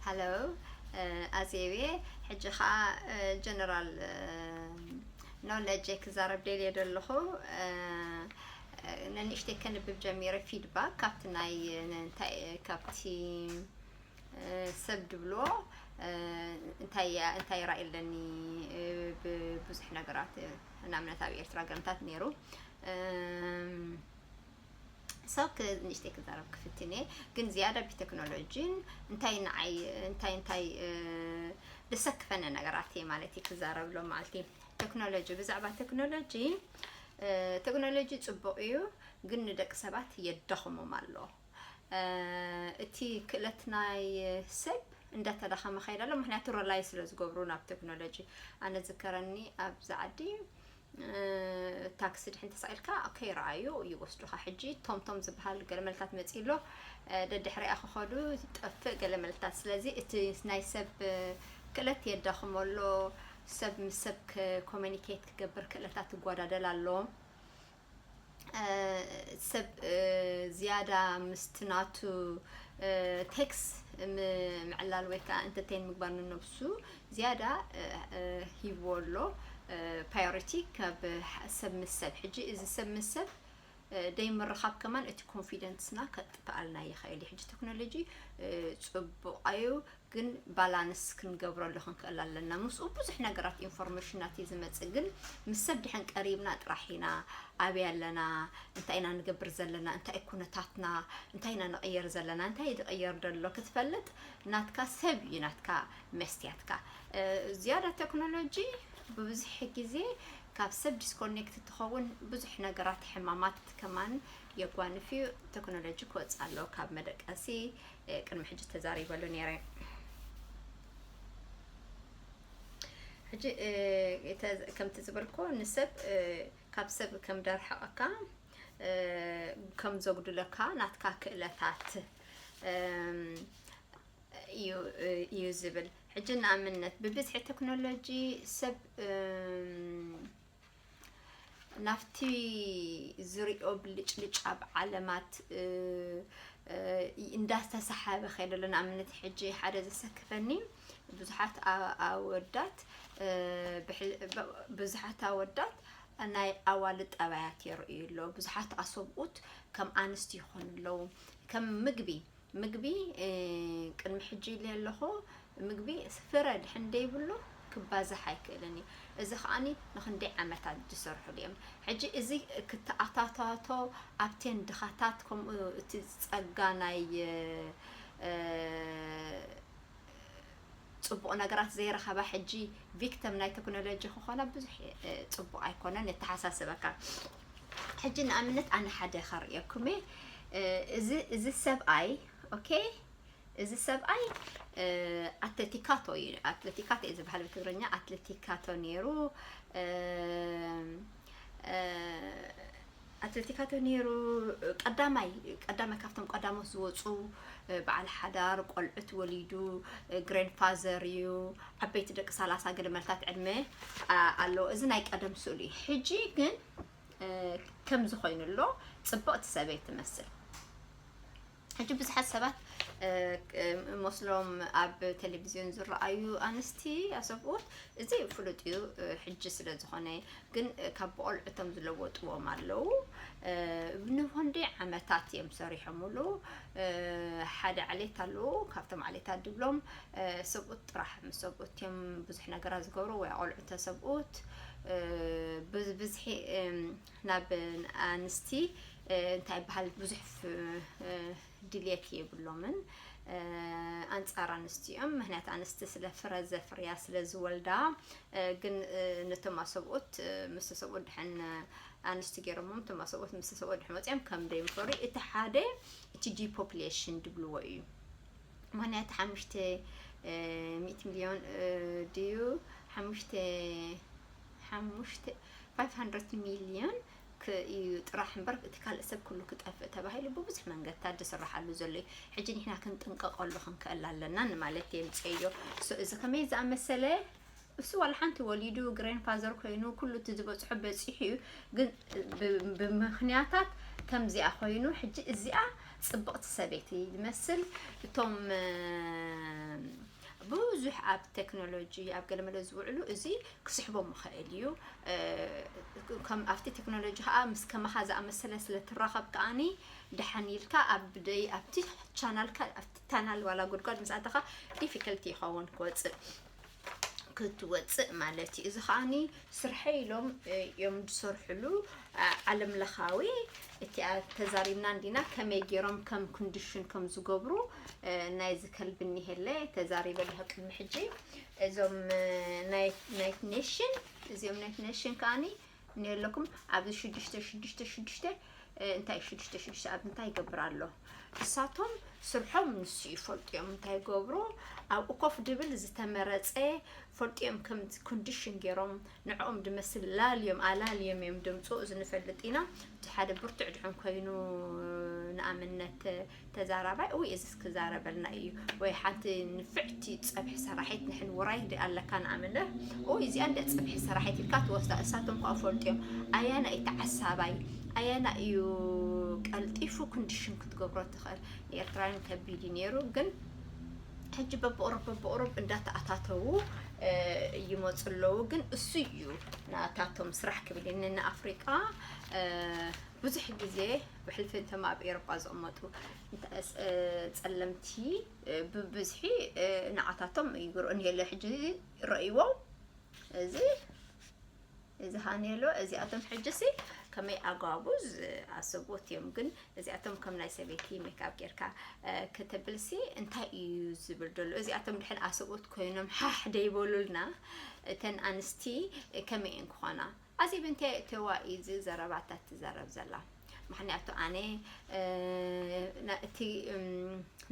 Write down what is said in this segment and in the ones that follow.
ሃሎ ኣዜብየ ሕጂ ከዓ ጀነራል ኖለጀ ክዛረብ ደልየ ደለኹ ነንእሽተይ ከንብብ ጀሚረ ፊድባክ ካብቲ ናይ እንታይ ካብቲ ሰብ ድብሎ እንታይ እንታይ ራእይ ኣለኒ ብብዙሕ ነገራት ንኣብነት ኣብ ኤርትራ ገምታት ነይሩ ሰብ ንእሽተይ ክዛረብ ክፍትን እየ ግን ዝያዳ ብቴክኖሎጂን እንታይ ንዓይ እንታይ እንታይ ዘሰክፈኒ ነገራት እየ ማለት እዩ ክዛረብ ሎ ማለቲ ቴክኖሎጂ ብዛዕባ ቴክኖሎጂ ቴክኖሎጂ ፅቡቅ እዩ ግን ንደቂ ሰባት የዳኽሞም ኣሎ እቲ ክእለት ናይ ሰብ እንዳተዳኸመ ከይደ ኣሎ ምክንያቱ ረላይ ስለ ዝገብሩ ናብ ቴክኖሎጂ ኣነ ዝከረኒ ኣብዚ ዓዲ ታክሲ ድሕን ተሳኢልካ ከይረኣዩ ይወስዱኻ ሕጂ ቶምቶም ዝበሃል ገለመልታት መፂ ኣሎ ደድሕሪኣ ክኸዱ ጠፍእ ገለመልታት ስለዚ እቲ ናይ ሰብ ክእለት የዳኽሞ ኣሎ ሰብ ምስ ሰብ ኮሚኒኬት ክገብር ክእለታት ይጓዳደል ኣሎ ሰብ ዝያዳ ምስቲ ናቱ ቴክስ ምዕላል ወይ ከዓ እንተተይን ምግባር ንነብሱ ዝያዳ ሂብዎ ኣሎ ፓዮሪቲ ካብ ሰብ ምስ ሰብ ሕጂ እዚ ሰብ ምስ ሰብ ደይምርኻብ ከማን እቲ ኮንፊደንስና ከጥፍኣልና ይኽእል እዩ ሕጂ ቴክኖሎጂ ፅቡቕ ኣዩ ግን ባላንስ ክንገብረሉ ክንክእል ኣለና ምስኡ ብዙሕ ነገራት ኢንፎርሜሽናት እዩ ዝመፅእ ግን ምስ ሰብ ድሕን ቀሪብና ጥራሕ ኢና ኣበይ ኣለና እንታይ ኢና ንገብር ዘለና እንታይ ኩነታትና እንታይ ኢና ንቕየር ዘለና እንታይ ዝቕየር ደሎ ክትፈልጥ ናትካ ሰብ እዩ ናትካ መስትያትካ ዝያዳ ቴክኖሎጂ ብብዙሕ ግዜ ካብ ሰብ ዲስኮኔክት ትኸውን ብዙሕ ነገራት ሕማማት ከማን የጓንፍ እዩ ቴክኖሎጂ ክወፅእ ኣለዎ ካብ መደቀሲ ቅድሚ ሕጂ ተዛሪበሉ ነይረ ሕጂ ከምቲ ዝበልኮ ንሰብ ካብ ሰብ ከም ደርሓቐካ ከም ዘጉድለካ ናትካ ክእለታት እዩ ዝብል ሕጂ ንኣብነት ብብዝሒ ቴክኖሎጂ ሰብ ናብቲ ዝሪኦ ብልጭልጭ ኣብ ዓለማት እንዳተሰሓበ ከይደ ኣሎ ንኣብነት ሕጂ ሓደ ዘሰክፈኒ ብዙሓት ኣወዳት ብዙሓት ኣወዳት ናይ ኣዋልድ ጠባያት የርእዩ ኣለዉ ብዙሓት ኣሰብኡት ከም ኣንስቲ ይኾኑ ኣለዉ ከም ምግቢ ምግቢ ቅድሚ ሕጂ ኢለ ኣለኹ ምግቢ ፍረ ድሕን ደይብሉ ክባዛሕ ኣይክእልን እዩ እዚ ከኣ ንክንደይ ዓመታት ዝሰርሕሉ እዮም ሕጂ እዚ ክተኣታታቶ ኣብቴን ድኻታት ከምኡ እቲ ጸጋ ናይ ጽቡቅ ነገራት ዘይረኸባ ሕጂ ቪክተም ናይ ተክኖሎጂ ክኾና ብዙሕ ጽቡቅ ኣይኮነን የተሓሳስበካ ሕጂ ንኣብነት ኣነ ሓደ ከርእየኩም እየ እዚ እዚ ሰብኣይ ኦኬ እዚ ሰብኣይ ኣትለቲካቶ እዩ ኣትለቲካቶ እዩ ዝበሃል ብትግርኛ ኣትለቲካቶ ነይሩ ኣትለቲካቶ ኔሩ ቀዳማይ ቀዳማይ ካብቶም ቀዳሞት ዝወፁ በዓል ሓዳር ቆልዑት ወሊዱ ግሬን ፋዘር እዩ ዓበይቲ ደቂ ሰላሳ ገደመልታት ዕድመ ኣለዎ እዚ ናይ ቀደም ስእሉ እዩ ሕጂ ግን ከምዚ ኮይኑ ኣሎ ፅብቕቲ ሰበይ ትመስል ሕጂ ብዙሓት ሰባት መስሎም ኣብ ቴሌቭዝዮን ዝረኣዩ ኣንስቲ ኣሰብኡት እዚ ፍሉጥ እዩ ሕጂ ስለ ዝኾነ ግን ካብ ብቆልዑቶም ዝለወጥዎም ኣለዉ ንሆንዲ ዓመታት እዮም ሰሪሖምሉ ሓደ ዓሌት ኣለዉ ካብቶም ዓሌታት ድብሎም ሰብኡት ጥራሕ ምስ ሰብኡት እዮም ብዙሕ ነገራት ዝገብሩ ወይ ቆልዑ ተሰብኡት ብብዝሒ ናብ ኣንስቲ እንታይ ይበሃል ብዙሕ ድልየት የብሎምን ኣንጻር ኣንስቲ እዮም ምክንያት ኣንስቲ ስለ ፍረ ዘፍርያ ስለ ዝወልዳ ግን ነቶም ኣሰብኡት ምስ ሰብኡት ድሕን ኣንስቲ ገይሮሞም እቶም ኣሰብኡት ምስ ሰብኡት ድሕን ወፂኦም ከም ደይምፈሩ እቲ ሓደ እቲ ዲፖፕሌሽን ድብልዎ እዩ ምክንያት ሓሙሽተ ሚእቲ ሚልዮን ድዩ ሓሙሽተ ሓሙሽተ፣ ፋይፍ ሃንድረት ሚልዮን፣ ክ ኢዩ ጥራሕ እምበር እቲ ካልእ ሰብ ኩሉ ክጠፍእ ተባሂሉ ብብዙሕ መንገድታት ዝስራሓሉ ዘሎ ኢዩ። ሕጂ ንሕና ክንጥንቀቀሉ ክንክእል ኣለና ንማለት ኢየ ምጸኢዮ። ሶ እዚ ከመይ ዝኣመሰለ እሱ ዋላ ሓንቲ ወሊዱ ግሬን ፋዘር ኮይኑ ኩሉ እቲ ዝበጽሖ በጺሑ ኢዩ ግን ብ ብምክንያታት ከምዚኣ ኮይኑ ሕጂ እዚኣ ጽብቅቲ ሰበይቲ ዝመስል እቶም ብዙሕ ኣብ ቴክኖሎጂ ኣብ ገለመለ ዝውዕሉ እዚ ክስሕቦም ይኽእል እዩ ከም ኣብቲ ቴክኖሎጂ ከዓ ምስ ከማኻ ዝኣመሰለ ስለ ትራኸብ ከዓኒ ደሓን ኢልካ ኣብ ደይ ኣብቲ ቻናልካ ኣብቲ ታናል ዋላ ጉድጓድ ምስ ኣተኻ ዲፊከልቲ ይኸውን ክወፅእ ክትወፅእ ማለት እዩ እዚ ከዓኒ ስርሐይ ኢሎም እዮም ዝሰርሕሉ ዓለም ለኻዊ እቲኣ ተዛሪብና እንዲና ከመይ ገይሮም ከም ኮንዲሽን ከም ዝገብሩ ናይ ዝከልቢ እኒሄለ ተዛሪበ ኣለኹ ቅድሚ ሕጂ እዞም ናይት ኔሽን እዚኦም ናይት ኔሽን ከዓኒ እኒሄለኩም ኣብዚ ሽዱሽተ ሽዱሽተ ሽዱሽተ እንታይ ሽዱሽተ ሽዱሽተ ኣብ እንታይ ይገብር ኣሎ እሳቶም ስርሖም ንሱ እዩ ፈልጡ እዮም እንታይ ይገብሩ ኣብኡ ኮፍ ድብል ዝተመረፀ ፈልጡ እዮም ከም ኮንዲሽን ገይሮም ንዕኦም ድመስል ላልዮም ኣላልዮም እዮም ድምፁ እዚ ንፈልጥ ኢና እቲ ሓደ ብርቱዕ ድሕን ኮይኑ ንኣብነት ተዛራባይ እውይ እዝስ ክዛረበልና እዩ ወይ ሓንቲ ንፍዕቲ ፀብሒ ሰራሒት ንሕን ውራይ እንዲ ኣለካ ንኣምንር እውይ እዚኣ እንደ ፀብሒ ሰራሒት ኢልካ ትወስዳ እሳቶም ከዓ ፈልጥዮም ኣያና እዩ ተዓሳባይ ኣያና እዩ ቀልጢፉ ክንዲሽን ክትገብሮ ትኽእል ንኤርትራውያን ከቢድ እዩ ነይሩ ግን ሕጂ በብቕሩብ በብቕሩብ እንዳተኣታተዉ ይመፁ ኣለዉ ግን እሱ እዩ ናታቶም ስራሕ ክብል ንኣፍሪቃ ብዙሕ ግዜ ብሕልፊ እቶም ኣብ ኤሮጳ ዝቕመጡ ጸለምቲ ብብዝሒ ንዓታቶም ይግርኡ ንሄለ ሕጂ ረእይዎም እዚ እዚ ሃኔሎ እዚኣቶም ሕጂሲ ከመይ ኣጓጉዝ ኣሰብዎት እዮም ግን እዚኣቶም ከም ናይ ሰበይቲ ሜካፕ ጌርካ ከተብልሲ እንታይ እዩ ዝብል ደሎ እዚኣቶም ድሕን ኣሰብዎት ኮይኖም ሓሕ ደይበሉልና እተን ኣንስቲ ከመይ እየን ክኾና ኣዜብ እንታይ የእተዋ እዩ እዚ ዘረባታት ትዘረብ ዘላ ምክንያቱ ኣነ እቲ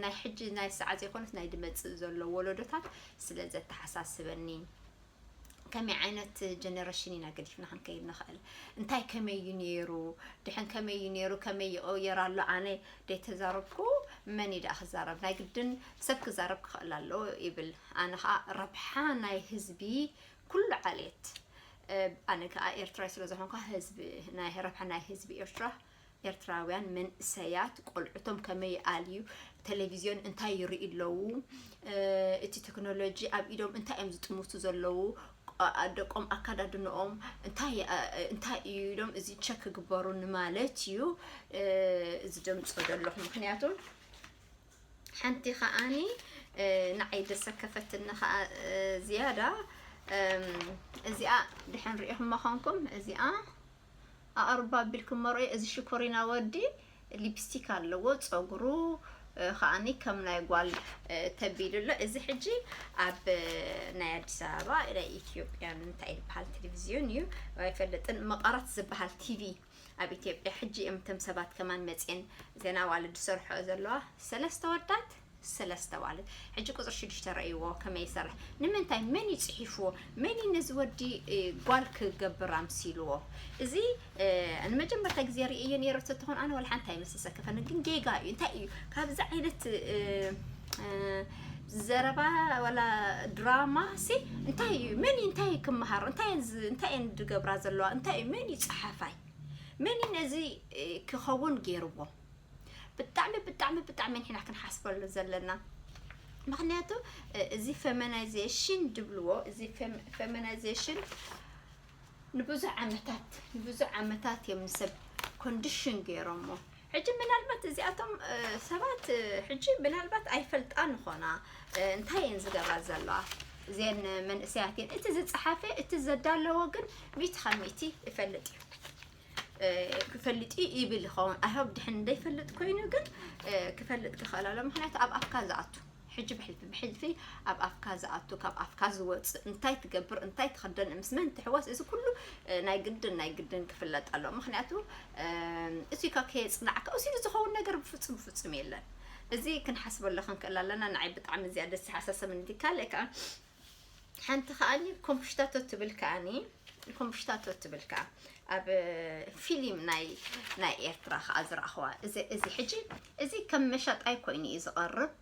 ናይ ሕጂ ናይ ሰዓ ዘይኮነስ ናይ ድመጽእ ዘሎ ወለዶታት ስለ ዘተሓሳስበኒ ከመይ ዓይነት ጀነሬሽን ኢና ገዲፍና ክንከይድ ንኽእል እንታይ ከመይ እዩ ነይሩ ድሕን ከመይ እዩ ነይሩ ከመይ ይቕየር ኣሎ ኣነ ደይተዛረብኩ መን እዩ ደኣ ክዛረብ ናይ ግድን ሰብ ክዛረብ ክኽእል ኣለዎ ይብል ኣነ ከዓ ረብሓ ናይ ህዝቢ ኩሉ ዓሌት ኣነ ክኣ ኤርትራይ ስለ ዝኾንኳ ህዝቢ ናይ ረብሓ ናይ ህዝቢ ኤርትራ ኤርትራውያን መንእሰያት ቆልዑቶም ከመይ ይኣልዩ ቴሌቪዝዮን እንታይ ይርእዩ ኣለዉ እቲ ቴክኖሎጂ ኣብ ኢዶም እንታይ እዮም ዝጥምቱ ዘለዉ ደቆም ኣካዳድንኦም እንታይ እዩ ኢሎም እዚ ቸክ ክግበሩ ንማለት እዩ እዚ ደምፆ ዘለኹ ምክንያቱ ሐንቲ ከኣኒ ንዓይ ዘሰከፈትኒ ከኣ ዝያዳ እዚኣ ድሐን ሪኢኹማ ኾንኩም እዚኣ ኣቕርባ ቢልኩሞ ርኦ እዚ ሽኮሪና ወዲ ሊፕስቲክ ኣለዎ ፀጉሩ ከኣኒ ከም ናይ ጓል ተቢሉ ኣሎ እዚ ሕጂ ኣብ ናይ ኣዲስ ኣበባ ናይ ኢትዮጵያን እንታይ ዝበሃል ቴሌቭዝዮን እዩ ኣይፈልጥን መቐረት ዝበሃል ቲቪ ኣብ ኢትዮጵያ ሕጂ እየም እተም ሰባት ከማን መጽየን ዜና ኣዋልድ ዝሰርሕኦ ዘለዋ ሰለስተ ወዳት ሰለስተ ኣዋልድ ሕጂ ቁጽሪ ሽዱሽተ ረእይዎ ከመይ ይሰርሕ ንምንታይ መን እዩ ጽሒፍዎ መን እዩ ነዚ ወዲ ጓል ክገብር ኣምሲልዎ እዚ ንመጀመርታ ግዜ ርእየዮ ነይረ ተትኾን ኣነ ወላ ሓንቲ ኣይመሰሰከፈኒ ግን ጌጋ እዩ እንታይ እዩ ካብዚ ዓይነት ዘረባ ወላ ድራማ ሲ እንታይ እዩ መን እዩ እንታይ ክመሃሮ እንታይ እየን ዝ- እንታይ እየን ዝገብራ ዘለዋ እንታይ እዩ መን እዩ ፀሓፋይ መን እዩ ነዚ እ፣ ክኸውን ገይርዎ ብጣዕሚ ብጣዕሚ ብጣዕሚ ንሕና ክንሓስበሉ ዘለና ምክንያቱ እ፣ እዚ ፌሚናይዜሽን ድብልዎ እዚ ፌም- ፌሚናይዜሽን ንብዙሕ ዓመታት ንብዙሕ ዓመታት እዮም ንሰብ ኮንዲሽን ገይሮሞ ሕጂ ምናልባት እዚኣቶም ሰባት ሕጂ ምናልባት ኣይፈልጣን ኾና እንታይ እየን ዝገብራ ዘለዋ እዘን መንእሰያት እየን እቲ ዝፀሓፈ እቲ ዘዳለዎ ግን ሚእቲ ካብ ሚእቲ ይፈልጥ እዩ ክፈልጥ እዩ ይብል ይኸውን ኣይሆብ ድሕን እንደይፈልጥ ኮይኑ ግን ክፈልጥ ክኽእል ኣሎ ምክንያቱ ኣብ ኣፍካ ዝኣቱ ሕጂ ብሕልፊ ብሕልፊ ኣብ ኣፍካ ዝኣቱ ካብ ኣፍካ ዝወጽእ እንታይ ትገብር እንታይ ትኽደን ምስ መን ትሕወስ እዚ ኩሉ ናይ ግድን ናይ ግድን ክፍለጥ ኣሎ ምክንያቱ እዚካ ከየጽናዕካ እዚሉ ዝኸውን ነገር ብፍጹም ብፍጹም የለን እዚ ክንሓስበሉ ክንክእል ኣለና ንዓይ ብጣዕሚ እዚኣ ደስ ሓሳሰብን እቲ ካልእ ከዓ ሓንቲ ከኣኒ ኮምፕሽታቶ ትብል ከኣኒ ኮምፕሽታቶ ትብል ከኣ ኣብ ፊልም ናይ ናይ ኤርትራ ከኣ ዝረኣኽዋ እዚ እዚ ሕጂ እዚ ከም መሻጣይ ኮይኑ እዩ ዝቐርብ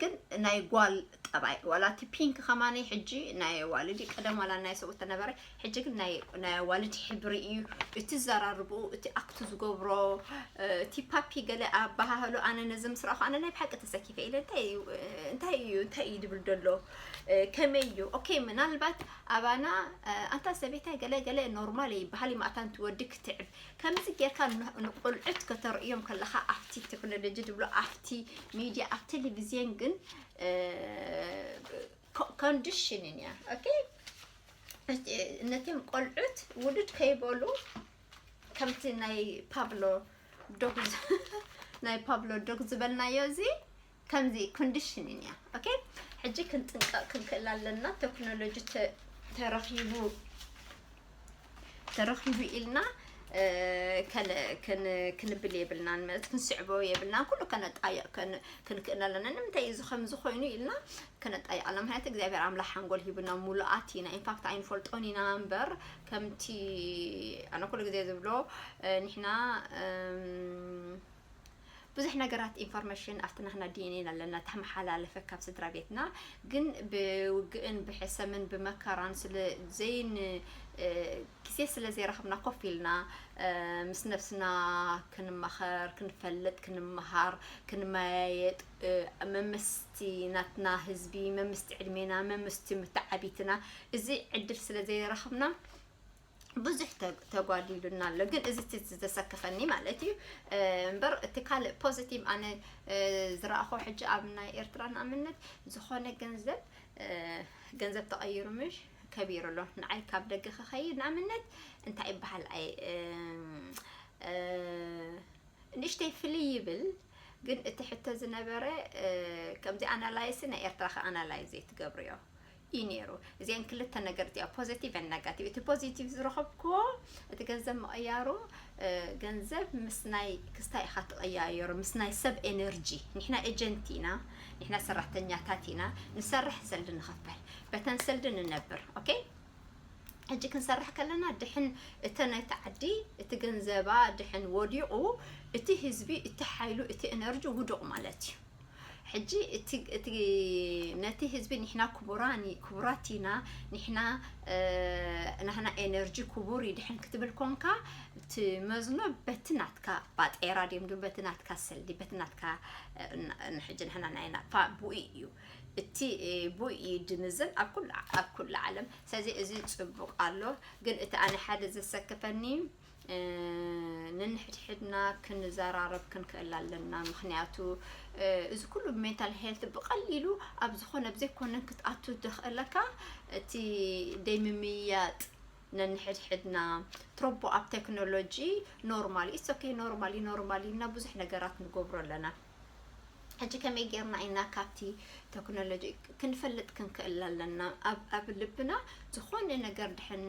ግን ናይ ጓል ጠባይ ዋላ እቲ ፒንክ ከማኒ ሕጂ ናይ ዋልዲ ቀደም ዋላ ናይ ሰብኡት ተነበረ ሕጂ ግን ናይ ናይ ኣዋልድ ሕብሪ እዩ እቲ ዘራርብኡ እቲ ኣክቱ ዝገብሮ እቲ ፓፒ ገለ ኣባሃህሎ ኣነ ነዚ ምስ ረኣኹ ኣነ ናይ ብሓቂ ተሰኪፈ ኢለ እንታይ እዩ እንታይ እዩ እንታይ እዩ ድብል ደሎ ከመይ እዩ ኦኬ ምናልባት ኣባና ኣንታ ሰበይታይ ገለ ገለ ኖርማል ይበሃል እዩ ማእታን ትወዲ ክትዕብ ከምዚ ጌርካ ንቆልዑት ከተርእዮም ከለኻ ኣብቲ ቴክኖሎጂ ድብሎ ኣብቲ ሚድያ ኣብ ቴሌቪዝየን ግን ኮንዲሽንን እያ ኦኬ ነቶም ቆልዑት ውሉድ ከይበሉ ከምቲ ናይ ፓብሎ ዶግ ናይ ፓብሎ ዶግ ዝበልናዮ እዚ ከምዚ ኮንዲሽንን እያ ኦኬ ሕጂ ክንጥንቀቕ ክንክእል ኣለና ቴክኖሎጂ ተረኺቡ ተረኺቡ ኢልና ከለ ከን ክንብል የብልናን ማለት ክንስዕቦ የብልናን ኩሉ ከነጣይቕ ከን ክንክእል ኣለና ንምንታይ እዚ ከምዚ ኮይኑ ኢልና ከነጣይቕ ኣለና ምክንያቱ እግዚኣብሔር ኣምላኽ ሓንጎል ሂቡና ሙሉኣት ኢና ኢንፋክት ኣይንፈልጦን ኢና እምበር ከምቲ ኣነ ኩሉ ግዜ ዝብሎ ንሕና እም፣ ብዙሕ ነገራት ኢንፎርመሽን ኣብቲ ናህና ዲኤንኤ ኣለና ተመሓላለፈ ካብ ስድራ ቤትና ግን ብውግእን ብሕሰምን ብመከራን ስለ ዘይን ግዜ ስለ ዘይረኸብና ኮፍ ኢልና ምስ ነብስና ክንማኸር ክንፈልጥ ክንመሃር ክንመያየጥ መምስቲ ናትና ህዝቢ መምስቲ ዕድሜና መምስቲ ምተዓቢትና እዚ ዕድል ስለ ዘይረኸብና ብዙሕ ተጓዲሉና ኣሎ ግን እዚ እቲ ዘሰከፈኒ ማለት እዩ እምበር እቲ ካልእ ፖዚቲቭ ኣነ ዝረኣኹ ሕጂ ኣብ ናይ ኤርትራ ንኣምነት ዝኾነ ገንዘብ ገንዘብ ተቐይሩ ምሽ ከቢሩ ኣሎ ንዓይ ካብ ደገ ክኸይድ ንኣምነት እንታይ ይበሃል ኣይ ንእሽተይ ፍልይ ይብል ግን እቲ ሕቶ ዝነበረ ከምዚ ኣናላይሲ ናይ ኤርትራ ከ ኣናላይዝ ትገብርዮ እዩ ነይሩ እዚኤን ክልተ ነገርት እያ ፖዘቲቭ ን ነጋቲቭ እቲ ፖዘቲቭ ዝረኸብክዎ እቲ ገንዘብ ምቕያሩ ገንዘብ ምስ ናይ ክስታይ ኢኻ ትቐያየሩ ምስ ናይ ሰብ ኤነርጂ ንሕና ኤጀንት ኢና ንሕና ሰራሕተኛታት ኢና ንሰርሕ ሰልዲ ንኽፈል በተን ሰልዲ ንነብር ኦኬ ሕጂ ክንሰርሕ ከለና ድሕን እተን እቲ ዓዲ እቲ ገንዘባ ድሕን ወዲቑ እቲ ህዝቢ እቲ ሓይሉ እቲ ኤነርጂ ውዱቕ ማለት እዩ ሕጂ እቲ እቲ ነቲ ህዝቢ ንሕና ክቡራ ክቡራት ኢና ንሕና ናህና ኤነርጂ ክቡር እዩ ድሕን ክትብል ኮንካ እቲ መዝኖ በቲ ናትካ ባጤራ ድም ድ በቲ ናትካ ሰልዲ በቲ ናትካ ሕጂ ንሕና ናይና ፋ ቡኢ እዩ እቲ ቡኢ እዩ ድምዝን ኣብ ኩሉ ኣብ ኩሉ ዓለም ስለዚ እዚ ጽቡቕ ኣሎ ግን እቲ ኣነ ሓደ ዘሰክፈኒ ንንሕድሕድና ክንዘራረብ ክንክእል ኣለና ምክንያቱ እዚ ኩሉ ሜንታል ሄልት ብቐሊሉ ኣብ ዝኾነ ኣብ ዘይኮነ ክትኣቱ ደኽእለካ እቲ ደይምምያጥ ነንሕድሕድና ትሮቦ ኣብ ቴክኖሎጂ ኖርማል ኢትስ ኦኬ ኖርማል ዩ ኖርማል ዩ እና ብዙሕ ነገራት ንገብሮ ኣለና ሕጂ ከመይ ጌርና ኢና ካብቲ ተክኖሎጂ ክንፈልጥ ክንክእል ኣለና ኣብ ኣብ ልብና ዝኾነ ነገር ድሕን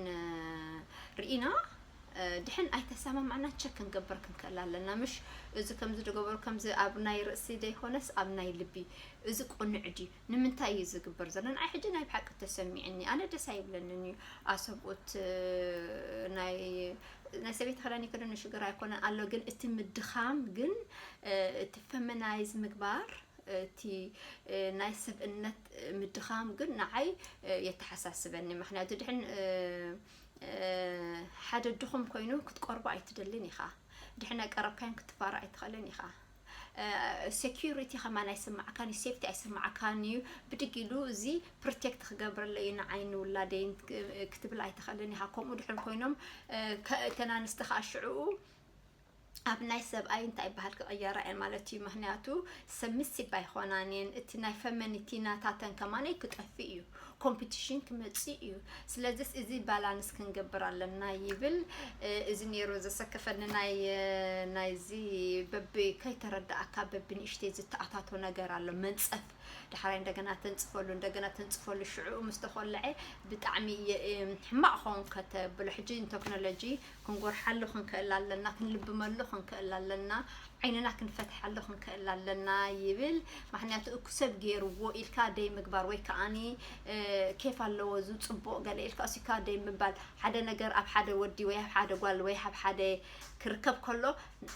ርኢና ድሕን ኣይተሰማማዕና ቸክ ክንገብር ክንክእል ኣለና ምሽ እዚ ከምዚ ዝገበሩ ከምዚ ኣብ ናይ ርእሲ ዘይኮነስ ኣብ ናይ ልቢ እዚ ቁኑዕ ድዩ ንምንታይ እዩ እዚ ዝግበር ዘሎ ንዓይ ሕጂ ናይ ብሓቂ ተሰሚዕኒ ኣነ ደስ ኣይብለንን እዩ ኣሰብኡት ናይ ናይ ሰበይቲ ክዳን ይክደኑ ሽግር ኣይኮነን ኣሎ ግን እቲ ምድኻም ግን እቲ ፈመናይዝ ምግባር እቲ ናይ ሰብእነት ምድኻም ግን ንዓይ የተሓሳስበኒ ምክንያቱ ድሕን ሓደ ድኹም ኮይኑ ክትቀርቦ ኣይትደልን ኢኻ ድሕን ኣይቀረብካዮን ክትፋራ ኣይትኽእልን ኢኻ ሴኩሪቲ ከማን ኣይስማዓካን እዩ ሴፍቲ ኣይስማዓካን እዩ ብድግ ኢሉ እዚ ፕርቴክት ክገብረለይ እዩ ንዓይ ንውላደይ ክትብል ኣይትኽእልን ኢኻ ከምኡ ድሕር ኮይኖም እተን ኣንስቲ ከዓ ሽዕኡ ኣብ ናይ ሰብኣይ እንታይ ይበሃል ክቕየራ እየን ማለት እዩ ምክንያቱ ሰሚሲብ ኣይኮናን እየን እቲ ናይ ፈመኒቲ ናታተን ከማነይ ክጠፍእ እዩ ኮምፒቲሽን ክመፅእ እዩ ስለዚ እዚ ባላንስ ክንገብር ኣለና ይብል እዚ ነይሩ ዘሰከፈኒ ናይ ናይዚ በቢ ከይተረዳእካ በቢ ንእሽተይ ዝተኣታቶ ነገር ኣሎ መንፀፍ ዳሕራይ እንደገና ተንፅፈሉ እንደገና ተንፅፈሉ ሽዑኡ ምስ ተኮልዐ ብጣዕሚ ሕማቅ ክኸውን ከተብሎ ሕጂ ቴክኖሎጂ ክንጎርሓሉ ክንክእል ኣለና፣ ክንልብመሉ ክንክእል ኣለና፣ ዓይንና ክንፈትሓሉ ክንክእል ኣለና ይብል። ማክንያቱ እኩ ሰብ ጌርዎ ኢልካ ደይ ምግባር ወይ ከኣኒ ኬፍ ኣለዎ እዚ ጽቡቅ ገለ ኢልካ እሲካ ደይ ምባል ሓደ ነገር ኣብ ሓደ ወዲ ወይ ኣብ ሓደ ጓል ወይ ኣብ ሓደ ክርከብ ከሎ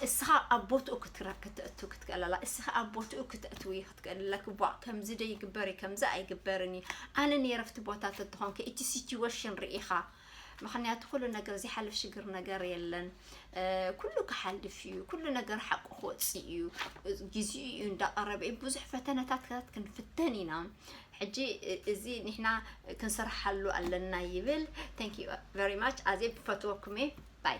እስኻ ኣብ ቦትኡ ክትእቱ ክትክእል ኣላ እስኻ ኣብ ቦትኡ ክትእትዊ ክትክእል ኣለኪ ቧ ከምዚ ደይ ግበሪ ከምዚ ኣይግበርን እዩ ኣነ ነረፍቲ ቦታት እትኾንከ እቲ ሲትዌሽን ርኢኻ ምክንያቱ ኩሉ ነገር ዘይሓልፍ ሽግር ነገር የለን ኩሉ ክሓልፍ እዩ ኩሉ ነገር ሓቁ ክወፅእ እዩ ግዜኡ እዩ እንዳቀረበ እዩ ብዙሕ ፈተነታት ክንፍተን ኢና ሕጂ እዚ ንሕና ክንስርሓሉ ኣለና ይብል ታንክ ዩ ቨሪ ማች ኣዜ ብፈትወኩም እየ ባይ